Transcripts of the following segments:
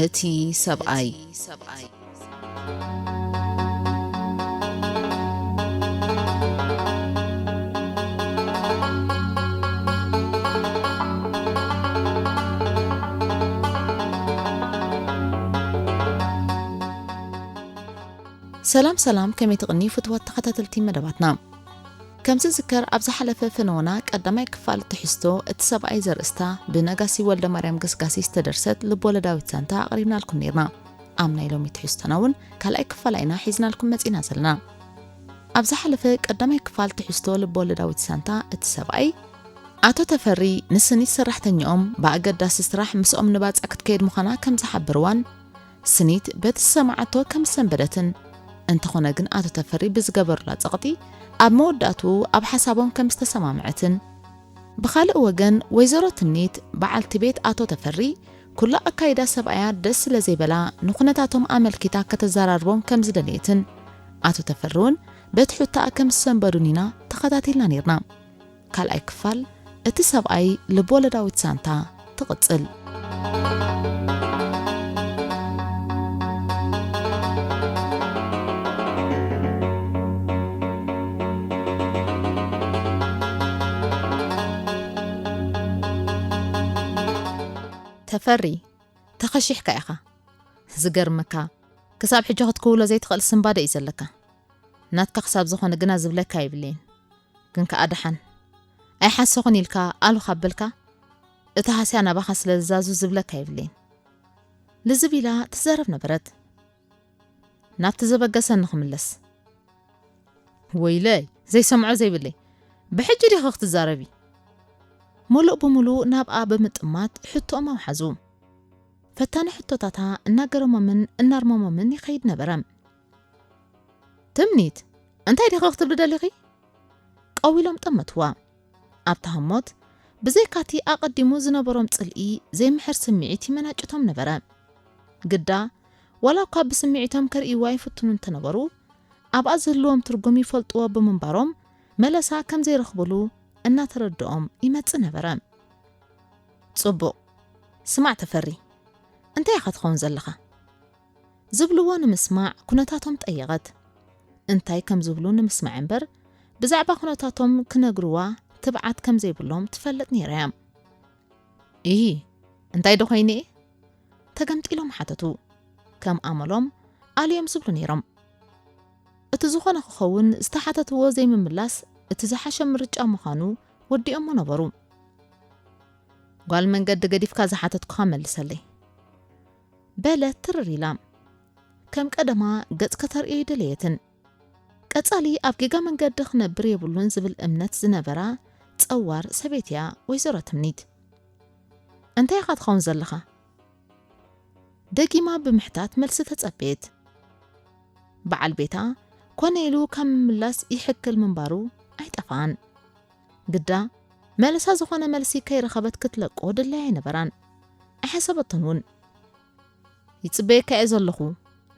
እቲ ሰብኣይ። ሰላም ሰላም ከመይ ትቅንዩ ፍትዋት ተከታተልቲ መደባትና። ከም ዝዝከር ኣብ ዝሓለፈ ፈነወና ቀዳማይ ክፋል ትሕዝቶ እቲ ሰብኣይ ዘርእስታ ብነጋሲ ወልደማርያም ገስጋሲ ዝተደርሰት ልቦለዳዊት ዛንታ ኣቕሪብናልኩም ነይርና። ኣብ ናይ ሎሚ ትሕዝቶና እውን ካልኣይ ክፋላ ኢና ሒዝናልኩም መጺና ዘለና። ኣብ ዝሓለፈ ቀዳማይ ክፋል ትሕዝቶ ልቦለዳዊት ዛንታ እቲ ሰብኣይ ኣቶ ተፈሪ ንስኒት ሰራሕተኛኦም ብኣገዳሲ ስራሕ ምስኦም ንባጽዕ ክትከይድ ምዃና ከም ዝሓበርዋን ስኒት በቲ ዝሰምዓቶ ከም ዝሰንበደትን፣ እንተኾነ ግን ኣቶ ተፈሪ ብዝገበሩላ ጸቕጢ ኣብ መወዳእትኡ ኣብ ሓሳቦም ከም ዝተሰማምዐትን፣ ብኻልእ ወገን ወይዘሮ ትምኒት በዓልቲ ቤት ኣቶ ተፈሪ ኩሉ ኣካይዳ ሰብኣያ ደስ ስለ ዘይበላ ንኩነታቶም ኣመልኪታ ከተዘራርቦም ከም ዝደለየትን ኣቶ ተፈሪ ውን በቲ ሑታኣ ከም ዝሰንበዱን ኢና ተኸታቲልና ኔርና። ካልኣይ ክፋል እቲ ሰብኣይ ልብወለዳዊት ዛንታ ትቕጽል። ተፈሪ ተኸሺሕካ ኢኻ ዝገርመካ ክሳብ ሕጂ ክትክውሎ ዘይትኽእል ስንባደ እዩ ዘለካ ናትካ ክሳብ ዝኾነ ግና ዝብለካ የብለይን ግን ከኣ ደሓን ኣይሓሰኹን ኢልካ ኣሉ ካብ በልካ እቲ ሃስያ ናባኻ ስለ ዝዛዙ ዝብለካ የብለይን ልዝብ ኢላ ትዘረብ ነበረት ናብቲ ዘበገሰ ንኽምለስ ወይለይ ዘይሰምዖ ዘይብለይ ብሕጂ ዲኺ ክትዛረቢ ሙሉእ ብምሉእ ናብኣ ብምጥማት ሕቶኦም ኣውሓዙ ፈታኒ ሕቶታታ እናገረሞምን እናርመሞምን ይኸይድ ነበረ ትምኒት፣ እንታይ ዲኺ ክትብሊ ደሊኺ? ቀው ኢሎም ጠመትዋ። ኣብ ተሃሞት፣ ብዘይካ'ቲ ኣቐዲሙ ዝነበሮም ጽልኢ፣ ዘይምሕር ስምዒት ይመናጭቶም ነበረ። ግዳ፣ ዋላ'ኳ ብስምዒቶም ከርእይዋ ይፍትኑ እንተነበሩ፣ ኣብኣ ዝህልዎም ትርጉም ይፈልጥዎ ብምንባሮም፣ መለሳ ከም ዘይረኽቡሉ እናተረድኦም ይመጽእ ነበረ። ጽቡቕ፣ ስማዕ ተፈሪ፣ እንታይ ኢኻ ትኸውን ዘለኻ? ዝብልዎ ንምስማዕ ኩነታቶም ጠየቐት። እንታይ ከም ዝብሉ ንምስማዕ እምበር ብዛዕባ ኩነታቶም ክነግርዋ ትብዓት ከም ዘይብሎም ትፈልጥ ነይራ እያ። እሂ እንታይ ዶ ኮይነ እየ? ተገምጢሎም ሓተቱ። ከም ኣመሎም ኣልዮም ዝብሉ ነይሮም። እቲ ዝኾነ ክኸውን ዝተሓተትዎ ዘይምምላስ እቲ ዝሓሸ ምርጫ ምዃኑ ወዲኦሞ ነበሩ። ጓል መንገዲ ገዲፍካ ዝሓተትኩኻ መልሰለይ። በለት ትርር ኢላ። ከም ቀደማ ገጽ ከተርእዮ ኣይደለየትን። ቀጻሊ ኣብ ጌጋ መንገዲ ክነብር የብሉን ዝብል እምነት ዝነበራ ጸዋር ሰበይቲ'ያ ወይዘሮ ትምኒት። እንታይ ኢኻ ትኸውን ዘለኻ? ደጊማ ብምሕታት መልሲ ተጸበየት። በዓል ቤታ ኮነ ኢሉ ካብ ምምላስ ይሕክል ምንባሩ ኣይጠፍኣን። ግዳ መልሳ ዝኾነ መልሲ ከይረኸበት ክትለቆ ድላይ ኣይነበራን። ኣይሓሰበቶን እውን። ይጽበየካ እየ ዘለኹ፣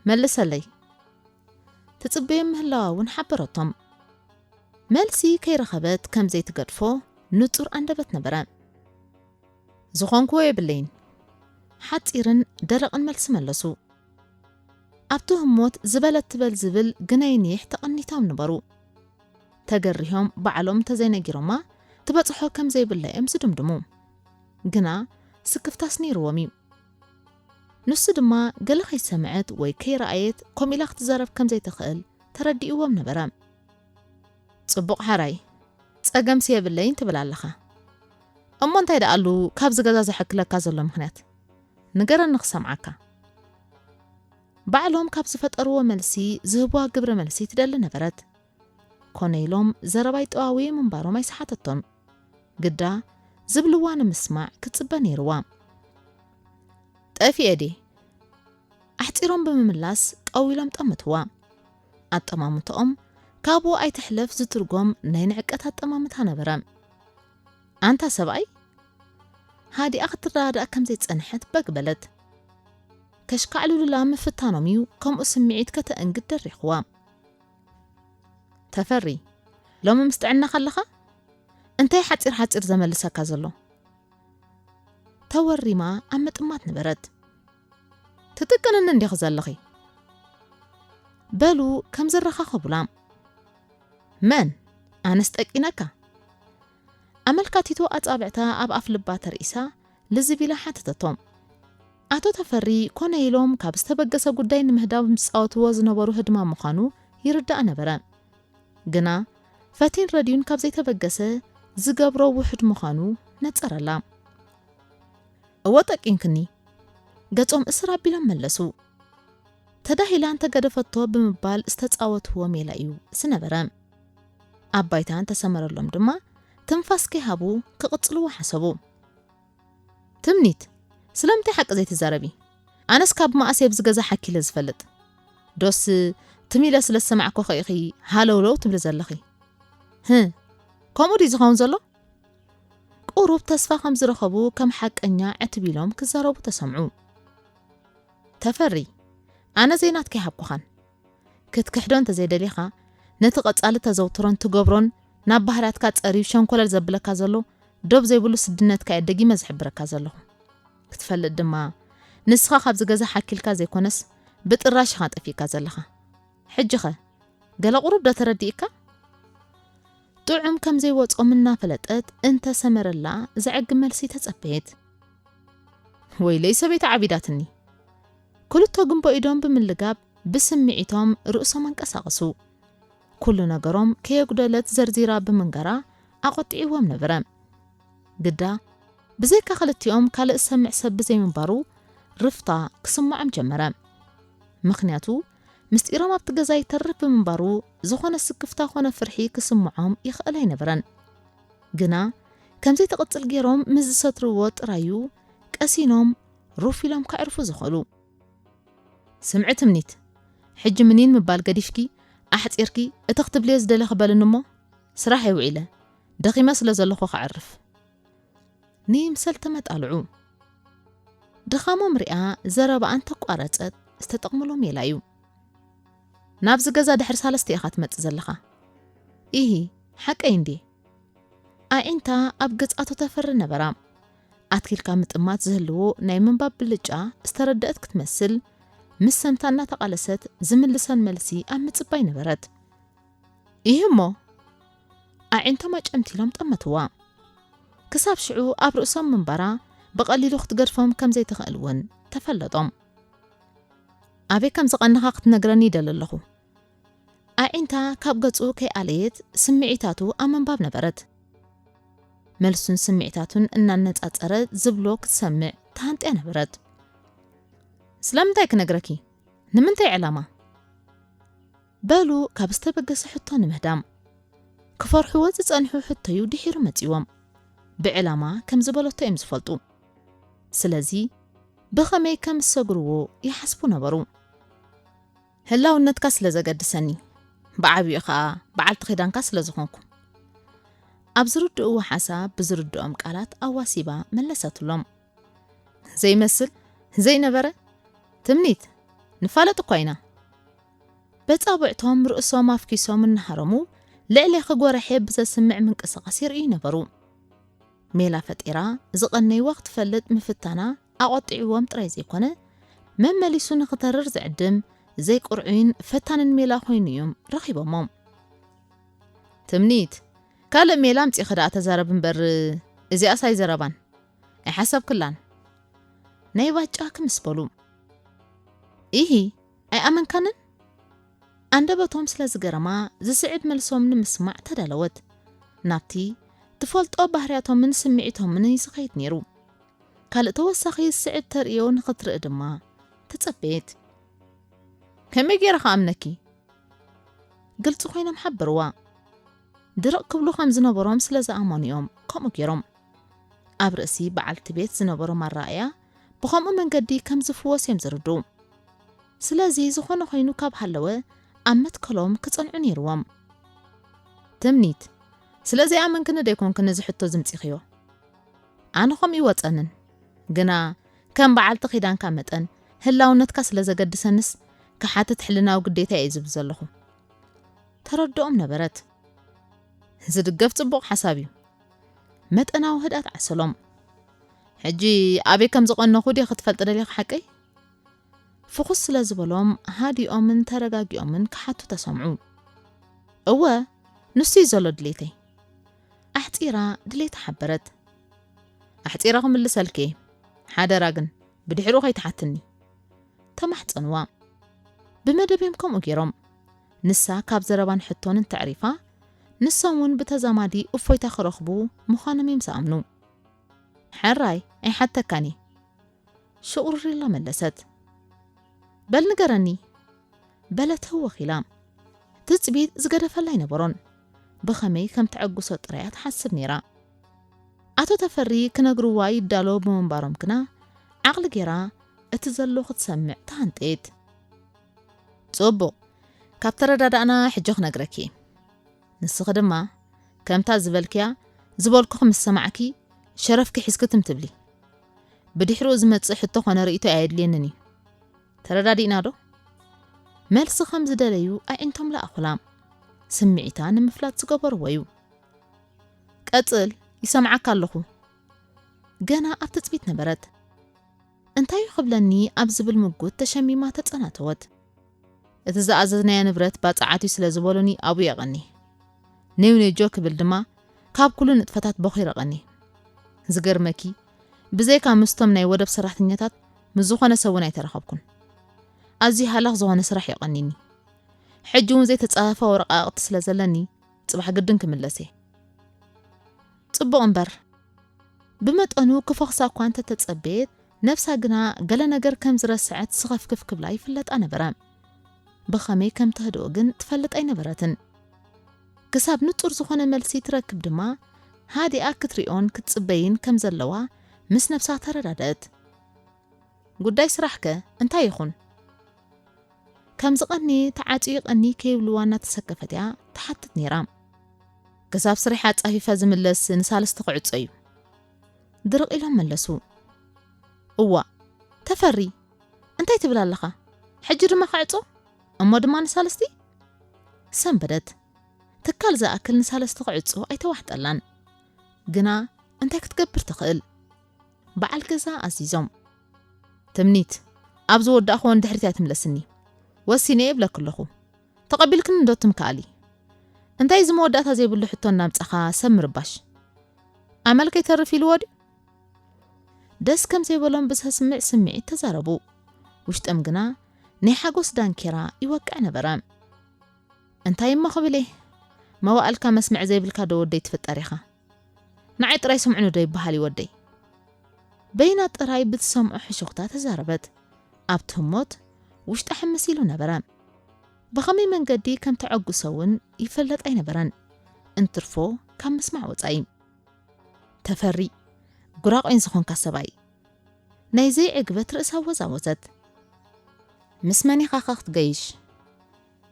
መልሰለይ። ትጽበዮም ምህላዋ እውን ሓበረቶም። መልሲ ከይረኸበት ከም ዘይትገድፎ ንጹር ኣንደበት ነበረ። ዝኾንክዎ የብለይን። ሓጺርን ደረቕን መልሲ መለሱ። ኣብቲ ህሞት ዝበለት ትበል ዝብል ግነይንይሕ ተቐኒቶም ነበሩ። ተገሪሆም ባዕሎም እንተዘይነጊሮማ ትበጽሖ ከም ዘይብላ እዮም ዝድምድሙ። ግና ስክፍታስ ነይርዎም እዩ። ንሱ ድማ ገለ ከይሰምዐት ወይ ከይረኣየት ከምኡ ኢላ ክትዛረብ ከም ዘይትኽእል ተረዲእዎም ነበረ። ጽቡቕ ሓራይ፣ ጸገምሲ የብለይን ትብል ኣለኻ። እሞ እንታይ ደኣሉ ካብዚ ገዛ ዘሕክለካ ዘሎ ምኽንያት? ንገረኒ ክሰምዓካ። ባዕሎም ካብ ዝፈጠርዎ መልሲ ዝህቡዋ ግብረ መልሲ ትደሊ ነበረት። ኮነ ኢሎም ዘረባይ ጠዋውየ ምንባሮም ኣይሰሓተቶን። ግዳ ዝብልዋ ንምስማዕ ክትጽበ ነይርዋ። ጠፊኤ ድየ? ኣሕጺሮም ብምምላስ ጠው ኢሎም ጠምትዋ። ኣጠማምትኦም ካብኡ ኣይትሕለፍ ዝትርጎም ናይ ንዕቀት ኣጠማምታ ነበረ። ኣንታ ሰብኣይ? ሃዲኣ ክትረዳዳእ ከምዘይጸንሐት በግ በለት። ከሽካዕልሉላ ምፍታኖም እዩ ከምኡ ስምዒት ከተእንግድ ደሪኽዋ። ተፈሪ፣ ሎሚ ምስ ጥዕናኻ ኣለኻ? እንታይ ሓጺር ሓጺር ዘመልሰካ ዘሎ? ተወሪማ ኣብ ምጥማት ነበረት። ትጥቅንኒ እንዲኺ ዘለኺ? በሉ ከም ዝረኻኸቡላ። መን? ኣነስ ጠቂነካ? ኣመልካቲቱ ኣጻብዕታ ኣብ ኣፍልባ ተርኢሳ ልዝብ ኢላ ሓተተቶ። ኣቶ ተፈሪ ኮነ ኢሎም ካብ ዝተበገሰ ጉዳይ ንምህዳው ዝጻወትዎ ዝነበሩ ህድማ ምዃኑ ይርዳእ ነበረ። ግና ፈቲን ረድዩን ካብ ዘይተበገሰ ዝገብሮ ውሑድ ምዃኑ ነጸረላ። እወ ጠቂንክኒ። ገጾም እስር ኣቢሎም መለሱ። ተዳሂላ እንተገደፈቶ ብምባል ዝተጻወትዎ ሜላ እዩ ዝነበረ። ኣብ ባይታ እንተሰመረሎም ድማ ትንፋስ ከይሃቡ ክቕጽልዎ ሓሰቡ። ትምኒት፣ ስለምንታይ ሓቂ ዘይትዛረቢ? ኣነስ ካብ መኣሰይ ኣብዚ ገዛ ሓኪለ ዝፈልጥ? ዶስ ትም ኢለ ስለ ዝሰማዕኩኺ ኢኺ ሃለውለው ትብሊ ዘለኺ? ህ ከምኡ ድዩ ዝኸውን ዘሎ? ቁሩብ ተስፋ ከም ዝረኸቡ ከም ሓቀኛ ዕትብ ኢሎም ክዛረቡ ተሰምዑ። ተፈሪ፣ ኣነ ዘይናትኪ ሃብኩኻን ክትክሕዶ እንተዘይደሊኻ፣ ነቲ ቀጻሊ ተዘውትሮን ትገብሮን ናብ ባህርያትካ ጸርዩ ሸንኮለል ዘብለካ ዘሎ ዶብ ዘይብሉ ስድነትካ'የ ደጊመ ዝሕብረካ ዘለኹ። ክትፈልጥ ድማ፣ ንስኻ ካብዚ ገዛ ሓኪልካ ዘይኮነስ ብጥራሽ ኢኻ ጠፊእካ ዘለኻ። ሕጂኸ ገለ ቁሩብ'ዶ ተረዲእካ? ጥዑም ከም ዘይወጾም እናፈለጠት እንተ ሰመረላ ዘዕግብ መልሲ ተጸበየት። ወይለይ ሰበይቲ ዓቢዳትኒ! ክልተ ጉንቦ ኢዶም ብምልጋብ ብስምዒቶም ርእሶም ኣንቀሳቐሱ። ኩሉ ነገሮም ከየጉደለት ዘርዚራ ብምንጋራ ኣቖጢዕዎም ነበረ። ግዳ ብዘይካ ክልቲኦም ካልእ ዝሰምዕ ሰብ ብዘይምንባሩ ርፍታ ክስመዖም ጀመረ። ምኽንያቱ ምስጢሮም ኣብቲ ገዛ ይተርፍ ብምንባሩ ዝኾነ ስክፍታ ኮነ ፍርሒ ክስምዖም ይኽእል ኣይነበረን። ግና ከምዘይተቕጽል ገይሮም ምስ ዝሰትርዎ ጥራይ'ዩ ቀሲኖም ሩፍ ኢሎም ከዕርፉ ዝኸሉ። ስምዒ ትምኒት ሕጂ ምኒን ምባል ገዲፍኪ ኣሕጺርኪ እቲ ክትብልዮ ዝደለኺ በልኒ እሞ ስራሐይ ውዒለ ደኺመ ስለ ዘለኹ ከዕርፍ ንይምሰል ተመጣልዑ። ድኻሞም ሪኣ ዘረባኣ እንተቋረጸት ዝተጠቕምሉ ሜላ እዩ። ናብዚ ገዛ ድሕሪ ሳለስተ ኢኻ ትመጽእ ዘለኻ። ኢሂ ሓቀይ እንድየ። ኣዒንታ ኣብ ገጻቶ ተፍሪ ነበራ። ኣትኪልካ ምጥማት ዝህልዎ ናይ ምንባብ ብልጫ ዝተረደእት ክትመስል፣ ምስ ሰምታ እናተቓለሰት ዝምልሰን መልሲ ኣብ ምጽባይ ነበረት። ይህሞ ኣዒንቶም ኣጨምቲሎም ጠመትዋ። ክሳብ ሽዑ ኣብ ርእሶም ምንባራ ብቐሊሉ ክትገድፎም ከም ዘይትኽእል እውን ተፈለጦም። ኣበይ ከም ዝቐነኻ ክትነግረኒ ይደሊ ኣለኹ። ኣዒንታ ካብ ገጹ ከይኣለየት ስምዒታቱ ኣብ ምንባብ ነበረት። መልሱን ስምዒታቱን እናነጻጸረ ዝብሎ ክትሰምዕ ተሃንጥያ ነበረት። ስለምንታይ ክነግረኪ? ንምንታይ ዕላማ? በሉ ካብ ዝተበገሰ ሕቶ ንምህዳም። ክፈርሕዎ ዝጸንሑ ሕቶዩ ድሒሩ መጺዎም። ብዕላማ ከም ዝበለቶ እዮም ዝፈልጡ። ስለዚ ብኸመይ ከም ዝሰግርዎ ይሓስቡ ነበሩ። ህላውነትካ ስለ ዘገድሰኒ፣ ብዓቢኡ ከኣ በዓልቲ ኪዳንካ ስለ ዝኾንኩ። ኣብ ዝርድእዎ ሓሳብ ብዝርድኦም ቃላት ኣዋሲባ መለሰትሎም። ዘይመስል፣ ዘይነበረ፣ ትምኒት፣ ንፋለጥ እኳ ኢና። በጻብዕቶም ርእሶም ኣፍኪሶም እናሃረሙ ልዕሌኺ ጎራሔ ብዘስምዕ ምንቅስቓስ የርእዩ ነበሩ። ሜላ ፈጢራ ዝቐነይዋ ክትፈልጥ ምፍታና ኣቖጢዕዎም ጥራይ ዘይኮነ፣ መመሊሱ ንኽተርር ዝዕድም ዘይቅርዑይን ፈታንን ሜላ ኮይኑ እዩም ረኺቦሞ። ትምኒት፣ ካልእ ሜላ ኣምጺኺ ደኣ ተዛረቢ እምበር እዚኣስ ኣይዘረባን ኣይሓሰብክላን ናይ ባጫ ክምስ በሉ። ኢሂ! ኣይኣመንካንን? ኣንደበቶም ስለ ዝገረማ ዝስዕብ መልሶም ንምስማዕ ተዳለወት። ናብቲ ትፈልጦ ባህርያቶምን ስምዒቶምን እዩ ዝኸይድ ነይሩ። ካልእ ተወሳኺ ዝስዕብ ተርእዮ ንኽትርኢ ድማ ተጸበየት። ከመይ ገይረ ክኣምነኪ? ግልጺ ኮይኖም ሓበርዋ። ድርቕ ክብሉ ከም ዝነበሮም ስለ ዝኣመኑ እዮም ከምኡ ገይሮም። ኣብ ርእሲ በዓልቲ ቤት ዝነበሮም ኣረኣእያ ብኸምኡ መንገዲ ከም ዝፍወስ እዮም ዝርድኡ። ስለዚ ዝኾነ ኾይኑ ካብ ሃለወ ኣብ መትከሎም ክጸንዑ ነይርዎም። ትምኒት፣ ስለዘይኣመንክኒ ዶ ኣይኮንክን እዚ ሕቶ ዝምጺኽዮ? ኣነ ከምኡ ይወጸንን። ግና ከም በዓልቲ ኪዳንካ መጠን ህላውነትካ ስለ ዘገድሰንስ ክሓትት ሕልናዊ ግዴታየ እዩ ዝብል ዘለኹ። ተረድኦም ነበረት። ዝድገፍ ጽቡቕ ሓሳብ እዩ። መጠናዊ ህድኣት ዓሰሎም። ሕጂ ኣበይ ከም ዝቐነኹ ድየ ክትፈልጥ ደሊኻ ሓቀይ? ፍኹስ ስለ ዝበሎም ሃዲኦምን ተረጋጊኦምን ክሓቱ ተሰምዑ። እወ ንሱ'ዩ ዘሎ ድሌተይ። ኣሕጺራ ድሌታ ሓበረት። ኣሕጺረ ክምልሰልኪ እየ፣ ሓደራ ግን ብድሕሪኡ ከይትሓትኒ። ተማሕጸንዋ። ብመደብ እዮም ከምኡ ገይሮም። ንሳ ካብ ዘረባን ሕቶን እንተዕሪፋ፣ ንሶም ውን ብተዛማዲ እፎይታ ክረኽቡ ምዃኖም እዮም ዝኣምኑ። ሕራይ ኣይሓተካን እየ። ሽቑርር ኢላ መለሰት። በል ንገረኒ! በለት ህውኽ ኢላ። ትጽቢት ዝገደፈላ ኣይነበሮን። ብኸመይ ከም ተዕግሶ ጥራይ እያ ትሓስብ ነይራ። ኣቶ ተፈሪ ክነግርዋ ይዳለዉ ብምንባሮም ግና ዓቕሊ ገይራ እቲ ዘሎ ክትሰምዕ ተሃንጠየት። ጽቡቕ ካብ ተረዳዳእና ሕጂ ክነግረኪ ንስኺ ድማ ከምታ ዝበልክያ ዝበልኩኺ ምስ ሰማዕኪ ሸረፍኪ ሒዝኪ ትም ትብሊ ብድሕርኡ ዝመጽእ ሕቶ ኮነ ርእይቶ ኣየድልየንን እዩ ተረዳዲእና ዶ መልሲ ከም ዝደለዩ ኣዒንቶም ለኣኹላ ስምዒታ ንምፍላጥ ዝገበርዎ እዩ ቀጽል ይሰምዓካ ኣለኹ ገና ኣብ ትጽቢት ነበረት እንታይ'ዩ ክብለኒ ኣብ ዝብል ምጉት ተሸሚማ ተጸናተወት። እቲ ዝኣዘዝናዮ ንብረት ባጽዓት'ዩ ስለ ዝበሉኒ ኣብኡ የቐኒ። ኔው ኔጆ ክብል ድማ ካብ ኩሉ ንጥፈታት በኺሩ ቐኒ። ዝገርመኪ ብዘይካ ምስቶም ናይ ወደብ ሰራሕተኛታት ምስ ዝኾነ ሰብ'ውን ኣይተራኸብኩን። ኣዝዩ ሃላኽ ዝኾነ ስራሕ'ዩ ቐኒኒ። ሕጂ'ውን ዘይተጻፈፈ ወረቓቕቲ ስለ ዘለኒ ጽባሕ ግድን ክምለስ'የ። ጽቡቕ እምበር ብመጠኑ ክፎኽሳ እኳ እንተ ተጸበየት፣ ነብሳ ግና ገለ ነገር ከም ዝረስዐት ስኸፍክፍ ክብላ ይፍለጣ ነበረ። ብኸመይ ከም ተህድኦ ግን ትፈልጥ ኣይነበረትን። ክሳብ ንጹር ዝኾነ መልሲ ትረክብ ድማ፣ ሃዲኣ ክትሪኦን ክትጽበይን ከም ዘለዋ ምስ ነብሳ ተረዳድእት። ጉዳይ ስራሕ ከ እንታይ ይኹን? ከም ዝቐንየ ተዓጽዩ ይቐንይ ከይብልዋ እናተሰከፈት እያ ትሓትት ነይራ። ክሳብ ስርሐ ኣጻፊፈ ዝምለስ ንሳልስቲ ክዕጾ እዩ። ድርቕ ኢሎም መለሱ። እዋእ! ተፈሪ! እንታይ ትብል ኣለኻ? ሕጂ ድማ ክዕጾ? እሞ ድማ ንሳልስቲ? ሰንበደት ትካል ዝኣክል ንሳልስቲ ክዕጾ ኣይተዋሕጠላን። ግና እንታይ ክትገብር ትኽእል? በዓል ገዛ ኣዚዞም። ትምኒት፣ ኣብ ዝወዳእክዎ ንድሕሪት ኣይትምለስኒ። ወሲነ'የ እብለኪ ኣለኹ። ተቐቢልክኒ'ዶ ትምክኣሊ? እንታይ እዚ መወዳእታ ዘይብሉ ሕቶ እናምጻኻ ሰብ ምርባሽ? ኣመል ከይተርፍ ኢልዎ ድዩ? ደስ ከም ዘይበሎም ብዘስምዕ ስምዒት ተዛረቡ። ውሽጦም ግና ናይ ሓጎስ ዳንኬራ ይወቅዕ ነበረ። እንታይ'ሞ ክብል እየ? መዋእልካ መስምዕ ዘይብልካ'ዶ ወደይ ትፍጠር ኢኻ? ንዓይ ጥራይ ስምዑኒ ዶ ይበሃል እዩ ወደይ? በይና ጥራይ ብትሰምዖ ሕሹኽታ ተዛረበት። ኣብቲ ህሞት ውሽጣ ሕምስ ኢሉ ነበረ። ብኸመይ መንገዲ ከም ተዐጉሰ እውን ይፈለጥ ኣይነበረን፣ እንትርፎ ካብ ምስማዕ ወጻኢ። ተፈሪ! ጉራቑይን ዝኾንካ ሰብኣይ! ናይ ዘይዕግበት ርእሳ ኣወዛወዘት። ምስ መን ኢኻ ከ ክትገይሽ?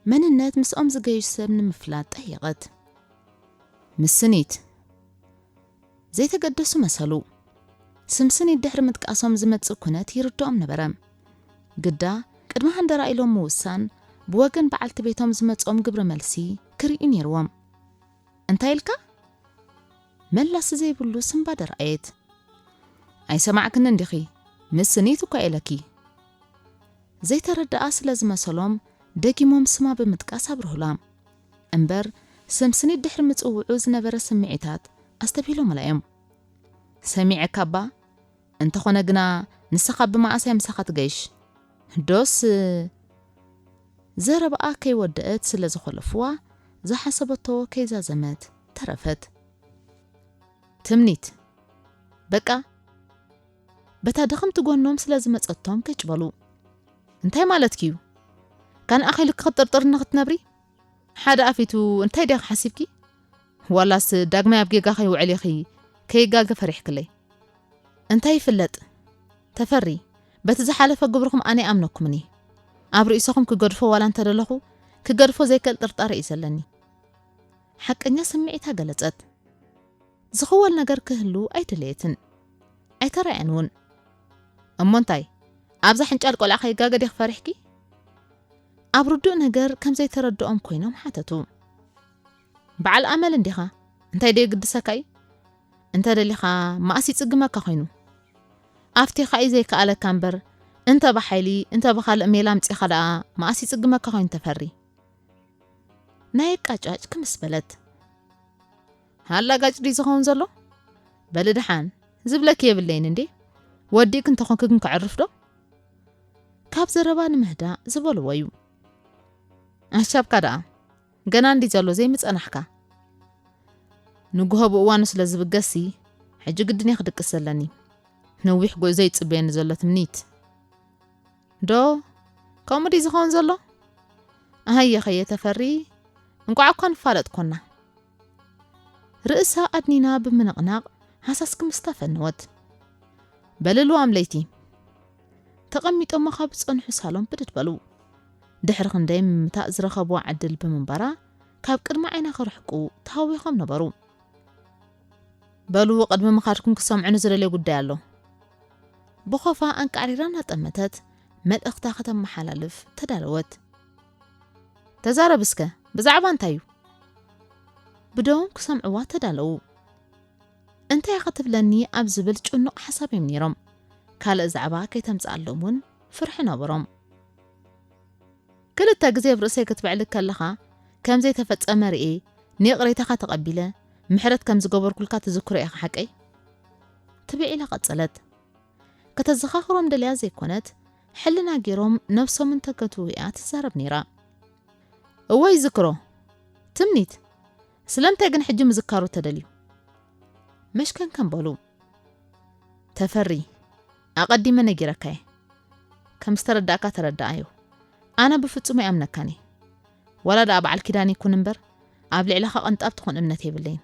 መንነት ምስኦም ዝገይሽ ሰብ ንምፍላጥ ጠየቐት። ምስ ስኒት ዘይተገደሱ መሰሉ። ስም ስኒት ድሕሪ ምጥቃሶም ዝመጽእ ኩነት ይርድኦም ነበረ። ግዳ ቅድሚ ሃንደራ ኢሎም ምውሳን ብወገን በዓልቲ ቤቶም ዝመጽኦም ግብረ መልሲ ክርእዩ ነይርዎም። እንታይ ኢልካ? መላሲ ዘይብሉ ስንባደ ረኣየት። ኣይሰማዕክንን ዲኺ? ምስ ስኒት እኳ ኢለኪ። ዘይተረድኣ ስለ ዝመሰሎም ደጊሞም ስማ ብምጥቃስ ኣብርሁላ። እምበር ስም ስኒት ድሕሪ ምጽውዑ ዝነበረ ስምዒታት ኣስተብሂሎምላ እዮም። ሰሚዐካ'ባ፣ እንተኾነ ግና ንሰኻ ብመኣስ እያ ምሳኻ ትገይሽ? ዶስ ዘረባኣ ከይወደእት ስለ ዝኾለፍዋ ዝሓሰበቶ ከይዛዘመት። ተረፈት ትምኒት በቃ በታ ድኽምቲ ጎኖም ስለ ዝመጸቶም ገጭ በሉ እንታይ ማለትኪ'ዩ ካን ኣኺሉ ክኽጥርጥር ንኽትነብሪ ሓደ ኣፊቱ እንታይ ዲኻ ሓሲብኪ ዋላስ ዳግማይ ኣብ ጌጋ ከይውዕል ኢኺ ከይጋገ ፈሪሕክለይ እንታይ ይፍለጥ ተፈሪ በቲ ዝሓለፈ ግብርኹም ኣነ ይኣምነኩምኒ ኣብ ርእሰኹም ክገድፎ ዋላ እንተደለኹ ክገድፎ ዘይክእል ጥርጣረ እዩ ዘለኒ ሓቀኛ ስምዒታ ገለጸት። ዝኽወል ነገር ክህሉ ኣይደለየትን። ኣይተራእያን እውን። እሞ እንታይ ኣብዛ ሕንጫል ቆልዓ ከይጋገ ዲኺ ፈሪሕኪ? ኣብ ርዱእ ነገር ከም ዘይተረድኦም ኮይኖም ሓተቱ። በዓል ኣመል እንዲኻ፣ እንታይ ዶ የግድሰካ እዩ? እንተ ደሊኻ መኣስ ይጽግመካ ኮይኑ? ኣፍቲኻ እዩ ዘይከኣለካ እምበር እንተ ብሓይሊ እንተ ብኻልእ ሜላ ኣምጺኻ ደኣ መኣስ ይጽግመካ ኮይኑ ተፈሪ? ናይ ኣቃጫጭ ክምስ በለት። ኣላጋጭ ድዩ ዝኸውን ዘሎ? በሊ ደሓን፣ ዝብለኪ የብለይን እንዴ፣ ወዲእኪ እንተኾንኪ ግን ከዕርፍ ዶ? ካብ ዘረባ ንምህዳእ ዝበልዎ እዩ። ኣሻብካ ደኣ ገና እንዲ ዘሎ ዘይምጸናሕካ ንጉሆ ብእዋኑ ስለ ዝብገሲ ሕጂ ግድን እየ ክድቅስ ዘለኒ ነዊሕ ጉዕዞ ይጽበየኒ ዘሎ ትምኒት ዶ ከምኡ ድዩ ዝኸውን ዘሎ? ኣህየኸየ ተፈሪ እንቋዕ እኳ ንፋለጥ ኮና። ርእሳ ኣድኒና ብምንቕናቕ ሃሳስ ክምስታ ፈነወት። በልልዋም ለይቲ ተቐሚጦሞ ካብ ዝጸንሑ ሳሎም ብድድ በሉ። ድሕሪ ክንደይ ምምታእ ዝረኸብዋ ዕድል ብምንባራ ካብ ቅድሚ ዓይና ክርሕቁ ተሃዊኾም ነበሩ። በሉ ቅድሚ ምኻድኩም ክሰምዑኒ ዝደልዮ ጉዳይ ኣሎ። ብኾፋ ኣንቃዕሪራ እናጠመተት መልእኽታ ከተመሓላልፍ ተዳለወት። ተዛረብ እስከ ብዛዕባ እንታይ እዩ? ብደዎም ክሰምዕዋ ተዳለዉ። እንታይ ኢኻ ትብለኒ ኣብ ዝብል ጭኑቕ ሓሳብ እዮም ነይሮም። ካልእ ዛዕባ ከይተምጽኣሎም እውን ፍርሒ ነበሮም። ክልተ ግዜ ኣብ ርእሰይ ክትብዕልግ ከለኻ ከም ዘይተፈጸመ ርእየ ንይቕሬታኻ ተቐቢለ ምሕረት ከም ዝገበርኩልካ ትዝክሮ ኢኻ ሓቀይ? ትብል ኢላ ቀጸለት። ከተዘኻኽሮም ደልያ ዘይኮነት ሕልና ጌሮም ነብሶም እንተ ገትዉ ኢያ ትዛረብ ኔራ። እወ ይዝክሮ። ትምኒት፣ ስለምንታይ ግን ሕጂ ምዝካሩ ተደልዩ? መሽከንከን በሉ። ተፈሪ፣ ኣቀዲመ ነጊረካ እየ ከም ዝተረዳእካ ተረዳኣዮ ኣነ ብፍጹም ኣይኣምነካን እየ ዋላ ደኣ በዓል ኪዳን ይኩን እምበር ኣብ ልዕለካ ቅንጣብ ትኩን እምነት የብለይን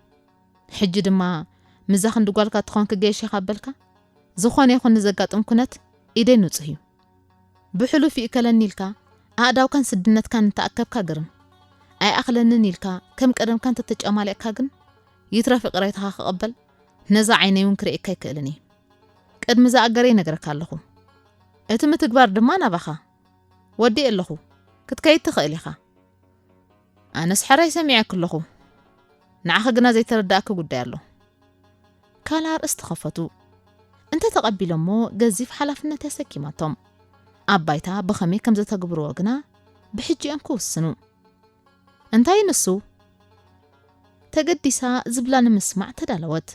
ሕጂ ድማ ምዛ ክንዲ ጓልካ ትኮን ክገየሽ ኢካ በልካ ዝኮነ ይኩን ንዘጋጥም ኩነት ኢደይ ንጹህ እዩ ብሕሉፍ ይእከለኒ ኢልካ ኣእዳውካን ስድነትካን እንተኣከብካ ግርም ኣይኣክለንን ኢልካ ከም ቀደምካ እንተተጨማሊቕካ ግን ይትረፍ ይቅሬታካ ክቅበል ነዛ ዓይነይ እውን ክርእየካ ኣይክእልን እየ ቅድሚ ዝኣገረ ይነግረካ ኣለኹ እቲ ምትግባር ድማ ናባኻ ወዲእ ኣለኹ ክትከይድ ትኽእል ኢኻ ኣነስ ሕራይ ሰሚዐክ ኣለኹ ንዓኺ ግና ዘይተረዳእኪ ጉዳይ ኣሎ ካልኣ ርእስ ተኸፈቱ እንተ ተቐቢሎሞ ገዚፍ ሓላፍነት የሰኪማቶም ኣብ ባይታ ብኸመይ ከም ዘተግብርዎ ግና ብሕጂኦም ክውስኑ እንታይ ንሱ? ተገዲሳ ዝብላ ንምስማዕ ተዳለወት።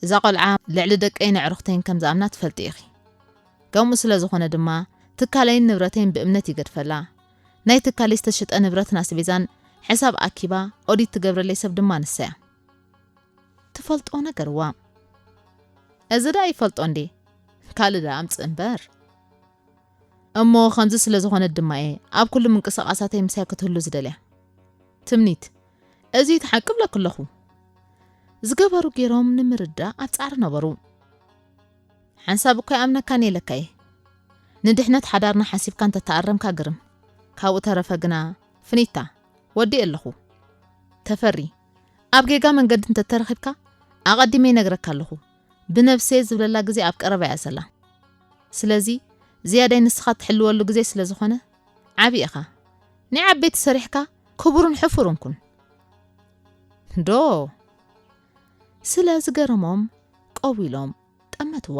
እዛ ቆልዓ ልዕሊ ደቀይን ኣዕሩኽተይን ከም ዝኣምና ትፈልጢ ኢኺ። ከምኡ ስለ ዝኾነ ድማ ትካለይን ንብረተይን ብእምነት ይገድፈላ። ናይ ትካለይ ዝተሸጠ ንብረትን ኣስቤዛን ሕሳብ ኣኪባ ኦዲት ትገብረለይ ሰብ ድማ ንሳ'ያ። ትፈልጦ ነገርዋ። እዚ ደኣ ይፈልጦ እንድየ ካልእ ደኣ ኣምጽእ እምበር። እሞ ከምዚ ስለ ዝኾነት ድማ እየ ኣብ ኩሉ ምንቅስቓሳተይ ምሳይ ክትህሉ ዝደልያ። ትምኒት፣ እዚ እቲ ሓቂ እብለኪ ኣለኹ። ዝገበሩ ገይሮም ንምርዳእ ኣብ ጻዕሪ ነበሩ። ሓንሳብ እኳ ኣይኣምነካን እየ ኢለካ እየ። ንድሕነት ሓዳርና ሓሲብካ እንተ ተኣረምካ ግርም። ካብኡ ተረፈ ግና ፍኒታ፣ ወዲኤ ኣለኹ። ተፈሪ፣ ኣብ ጌጋ መንገዲ እንተ ተረኺብካ ኣቐዲመ ይነግረካ ኣለኹ። ብነብሰይ ዝብለላ ግዜ ኣብ ቀረባ እያ ዘላ ስለዚ ዝያዳይ ንስኻ ትሕልወሉ ግዜ ስለ ዝኾነ ዓቢ ኢኻ ናይ ዓበይቲ ሰሪሕካ ክቡርን ሕፉርን ኩን ዶ ስለ ዝገረሞም ቀው ኢሎም ጠመትዋ።